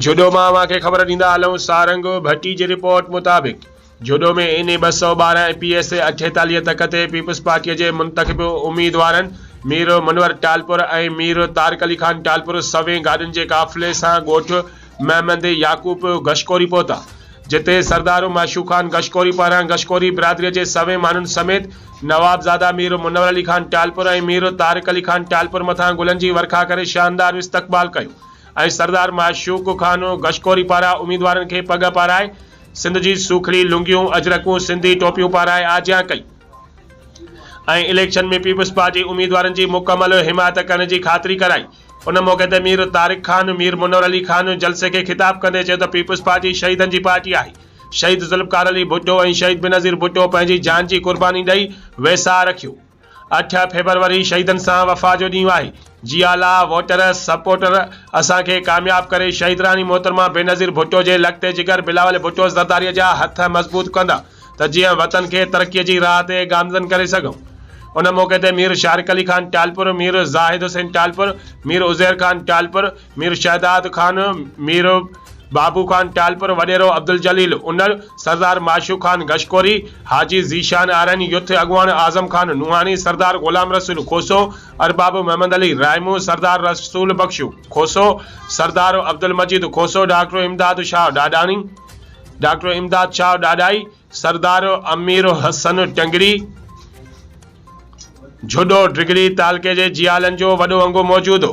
جھوڏو مان اوھان کي خبر ڏيندا ھلون سارنگ ڀٽي جي رپورٽ مطابق جھوڏو ۾ اين اي ٻه سؤ ٻارهن ۽ پي ايس اي اٺيتاليھ تڪ تي پيپلز پارٽي جي منتخب اميدوارن مير منور ٽالپر ۽ مير طارق علي خان ٽالپر سوين گاڏين جي قافلي سان ڳوٺ محمد يعقوب گشڪوري پهتا جتي سردار معشوق خان گشڪوري پاران گشڪوري برادري جي سوين ماڻھن سميت نوابزاده مير منور علي خان ٽالپر ۽ مير طارق علي خان ٽالپر مٿان گلن جي ورکا ڪري شاندار استقبال ڪيو ۽ سردار معشوق خان گشڪوري پاران اميدوارن کي پڳ پارائي سنڌ جي سوکڙي لنگيون، اجرڪون، سنڌي ٽوپيون پارائي آجيان ڪئي ۽ اليڪشن ۾ پيپلز پارٽي اميدوارن جي مڪمل حمايت ڪرڻ جي خاطري ڪرائي. ان موقعي تي مير طارق خان، مير منور علي خان جلسي کي خطاب ڪندي چيو ته پيپلز پارٽي شهيدن جي پارٽي آهي، شهيد ذوالفقار علي ڀٽو ۽ شهيد بينظير ڀٽو پنهنجي جان جي قرباني ڏئي ويساهه رکيو، اٺ فيبروري شهيدن سان وفا جو ڏينهن آهي جي اعليٰ ووٽر سپورٽر اسان کي ڪامياب ڪري شهيدراڻي محترمه بينظير ڀٽو جي لقطي جگر بلاول ڀٽو زرداري جا هٿ مضبوط ڪندا ته جيئن وطن کي ترقي جي راهه تي گامزن ڪري سگهون ان موقعي تي مير شارق علي خان ٽالپر مير زاهد حسين ٽالپر مير عزير خان ٽالپر مير شهداد خان، مير بابو خان ٽالپر، وڏيرو عبدالجليل انڙ، سردار معشوق خان گشڪوري، حاجي ذيشان آرائيني، يوٿ اڳواڻ اعظم خان نوحاڻي، سردار غلام رسول کوسو، ارباب محمد علي رائمون، سردار رسول بخش کوسو، سردار عبدالمجيد کوسو، ڊاڪٽر امداد شاهه ڏاڏاڻي، ڊاڪٽر امداد شاهه ڏاڏائي، سردار امير حسن ٽنگڙي، جهڏو ڊگهڙي تعلقي جي جيالن جو وڏو انگو موجود هو.